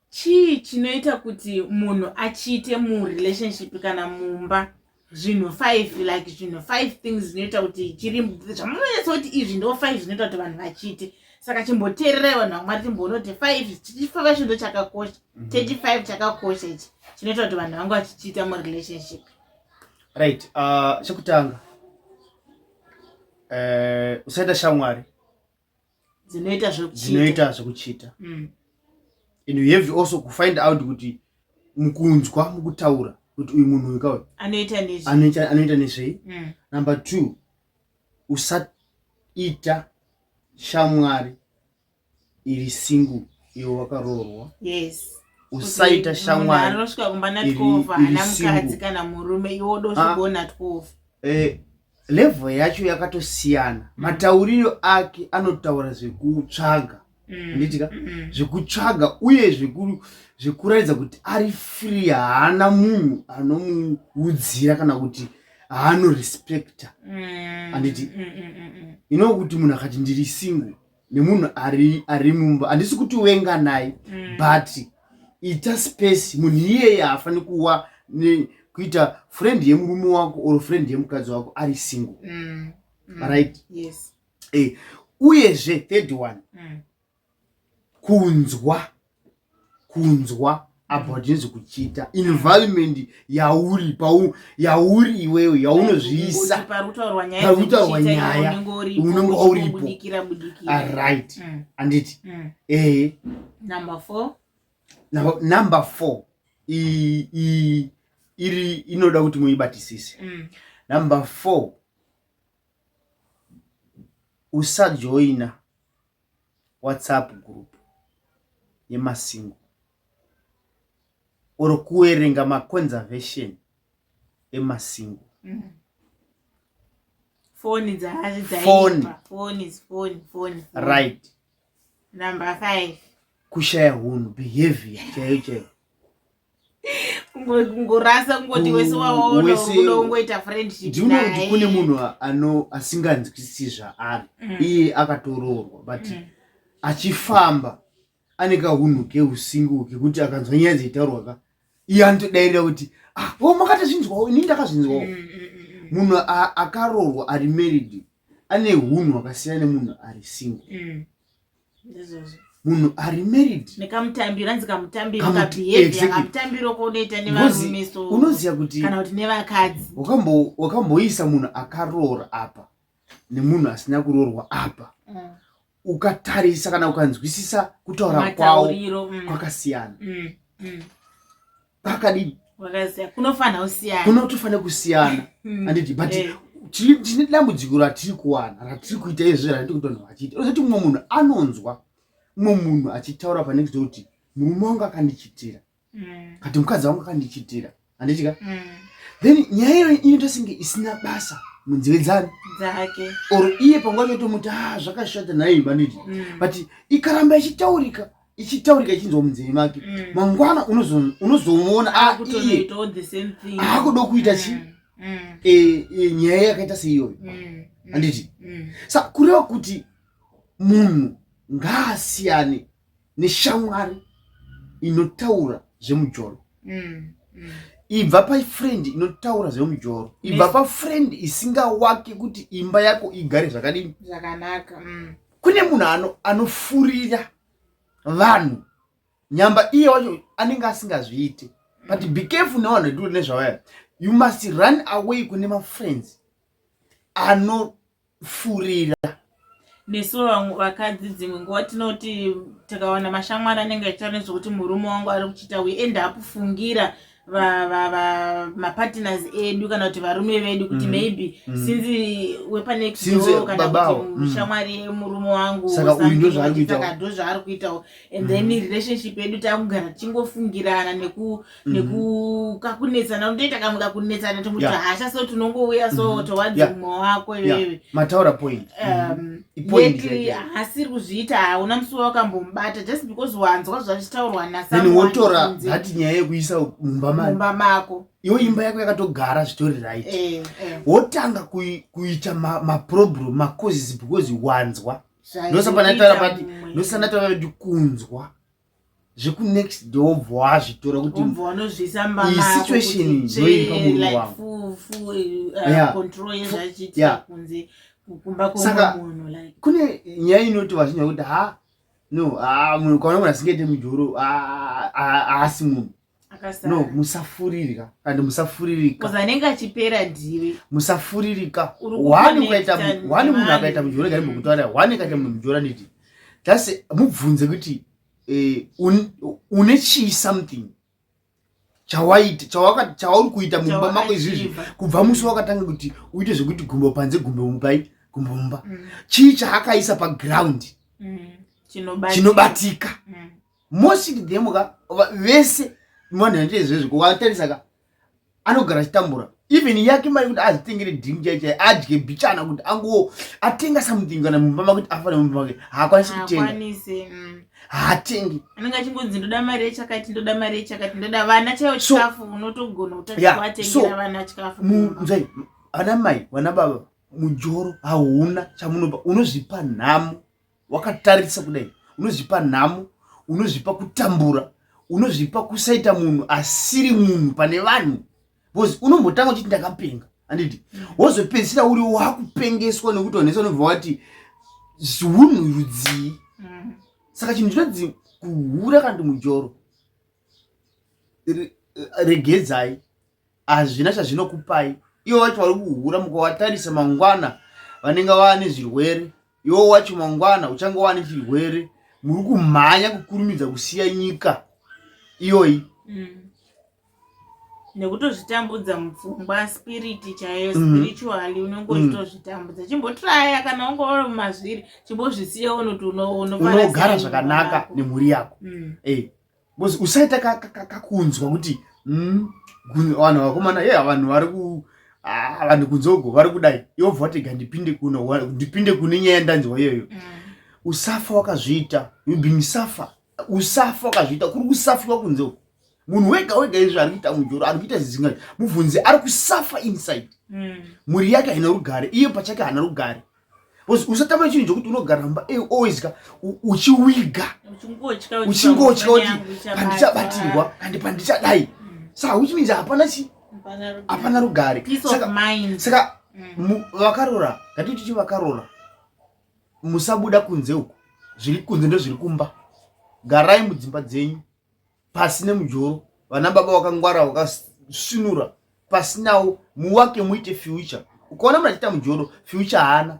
chii chinoita kuti munhu achiite murelationship kana mumba zvinhu five like zvinhu five things zvinoita kuti chiri zvamunonyatsa kuti izvi ndo five zvinoita kuti vanhu vachiite saka chimboteererai vanhu vamwari timbonoti five tichifava chindo chakakosha mhm. teti five chakakosha ichi chinoita kuti vanhu vangu vachichiita murelationship right uh, chekutanga uh, usaita shamwari dzinoita zvekuchita zvekuchita mm. and you have also kufind out kuti mukunzwa mukutaura kuti uyu munhu uyu kawe anoita nezvei mm. number two usaita shamwari iri single iwe wakaroorwa yes usaita shamwari anosvika kumba natwova ana mukadzi kana murume iwe dozvigona ah. twova eh, level yacho yakatosiyana mm. matauriro ake anotaura zvekutsvaga mm. anditika mm. zvekutsvaga uye zvekuratidza kuti ari free haana munhu anomuudzira kana kuti haanorespecta anditi inokuti munhu akati ndiri single nemunhu ari ari mumba handisi kuti wenga naye mm. but ita space munhu iyeye haafani kuwa ne, kuita friend yemurume wako or friend yemukadzi wako ari single mm. Mm. right yes. eh, uyezve third one mm. kunzwa kunzwa abva tinzi kuchita environment yauri pau yauri iwewe yaunozviisa parutaurwa nyaya unenge wauripo aright ah, mm. anditi mm. ehe number four number four iri inoda kuti muibatisise mm. number four usajoina WhatsApp group yemasingo or kuerenga maconservation emasingo mm. foni dzaaioni right number five kushaya hunhu behavior chaiyo chaiyo kungorasa kungoti wese wawaonaungoita friendshipndiona kuti kune munhu asinganzwisisi zvaari mm. iye akatoroorwa but mm. achifamba ane kahunhu keusingu kekuti akanzwa nyaya dzeitaurwa ka iye anotodairira kuti ah, o makatozvinzwawo ini ndakazvinzwawo mm, munhu akaroorwa ari married ane hunhu hwakasiyana nemunhu ari single munhu ari married nekamutambiro anzi kamutambiro kabehavior kamutambiro konoita nevarume so unoziva kuti kana kuti nevakadzi wakambo wakamboisa munhu akaroora apa nemunhu asina kuroorwa apa mm. ukatarisa kana ukanzwisisa kutaura kwawo mm. kwakasiyana mm. mm. pakadini wakaziya kunofanira kusiyana kunotofanira kusiyana hmm. anditi but eh. tine dambudziko ratiri kuwana ratiri kuita izvi ratiri kutonhu vachiita ozoti mumwe munhu anonzwa mumwe munhu achitaura panext door kuti murume wangu akandichitira hmm. kati mukadzi wangu akandichitira anditika hmm. then nyaya iyo inoita senge isina basa munzeve dzani dzake or iye panguva yotomuti ha ah, zvakashata nhayi banditi but ikaramba ichitaurika ichitaurika ichinzwa munzeve make mm. mangwana unozomuona ah, iye aakuda kuita chi mm. Mm. E, e, nyaya yakaita seiyoyo handiti sa kureva kuti munhu ngaasiyane neshamwari inotaura zvemujolo ibva pafriend inotaura zvemujoro ibva pafriend isingawake kuti imba yako igare zvakadini zvakanaka mm. kune munhu ano anofurira vanhu nyamba iye wacho anenge asingazviiti but be careful nevanhu vetiri nezvavaya you must run away kune mafriends anofurira nesu vakadzi dzimwe nguva tinoti tikawana mashamwari anenge achitaura nezvekuti murume wangu ari kuchiita we end up fungira mapartners edu kana kuti varume vedu kuti mm. maybe mm. since wepanext door kana kuti mm. shamwari yemurume wangu saka ndo zvaari kuitawo and then relationship yedu takugara tichingofungirana nekukakunetsana unotoita kamwe kakunetsana tomuti hasha so tinongouya so towadzi mumwe wako iwewe mataura point um, yekli haasiri kuzviita hauna musi wawakambomubata just because wanzwa zvachitaurwa nasaotora hati nyaya yekuisa mumba mako iyo imba yako yakatogara zvitori right eh, eh. wotanga kuita maproblem macauses because wanzwa ndosanatavati kunzwa zvekunext do wobva wazvitora kuti isituation ndoiri pamuri wanguyakusaka kune nyaya inoti vazhinji vakuti ha no ah, munhu kaona munhu asingaite mujoro ah, ah, haasi munhu no musafuririka kandi musafuririka anenge achipera ndiwe musafuririka wani ukaita wani munhu akaita mujora gari mukutaura wani akaita munhu mujora nditi just mubvunze kuti eh, une chii something chawaita chawaka chauri kuita mumba mako izvizvi kubva musi wakatanga kuti uite zvekuti gumbo panze gumbo mupai gumbo mumba mm. chii chaakaisa paground mm. chinobatika mm. most of them ka vese vanhu vanoita izvezvi kuvatarisa ka anogara achitambura even yake mari kuti azvitengere drink chai chai adye bichana kuti ango atenga something kana mumba makuti afane mumba make haakwanisi kutenga mm. haatengi anenge achingonzi ndoda mari yechakati ndoda mari yechakati ndoda vana chaiyo chikafu unotogona kutaaatengera vana chikafu mzai ana mai vana baba mujoro hauna chamunopa unozvipa nhamo wakatarisa kudai unozvipa nhamo unozvipa kutambura unozvipa kusaita munhu asiri munhu pane vanhu bcause unombotanga uchiti ndakapenga anditi wozopedzisira uri wakupengeswa nekuti onesa unobva wati hunhu rudzii mm. saka chinhu chinonzi kuhura kana kuti mujoro regedzai hazvina chazvinokupai ivo vacho vari kuhura mukawatarisa mangwana vanenge vane zvirwere iwo wacho mangwana uchange wane chirwere muri kumhanya kukurumidza kusiya nyika iyoyi mm. nekutozvitambudza mupfungwa spiriti chaiyo mm. spiritually unenge mm. uchitozvitambudza chimbotraya kana unge uri mumazviri chimbozvisiya unoti unogara zvakanaka nemhuri yako mm. eh, because usaita kakunzwa kuti mm, vanhu vakomana ye vanhu vari ku ah, vanhu kunzogo vari kudai yobva watega ndipinde kuno ndipinde kune nyaya ndanzwa iyoyo mm. usafa wakazviita you being suffer usafa wakazviita kuri kusafiwa kunzogo munhu wega wega izvi ari kuita mujoro ari kuita zvizinga mubvunzi ari kusafa inside mm. mhuri yake haina rugare iye pachake haana rugare usatama chinhu chokuti unogara mumba eh, always ka uchiwiga uchingotya kuti pandichabatirwa kandi pandichadai mm. saka which means hapana chi hapana rugare saka mm. vakarora ngatititi vakarora musabuda kunze uku zviri kunze ndozviri kumba garai mudzimba dzenyu pasi nemujoro vana baba wakangwara wakasinura pasinawo muwake muite future ukaona mnhu achiita mujoro future haana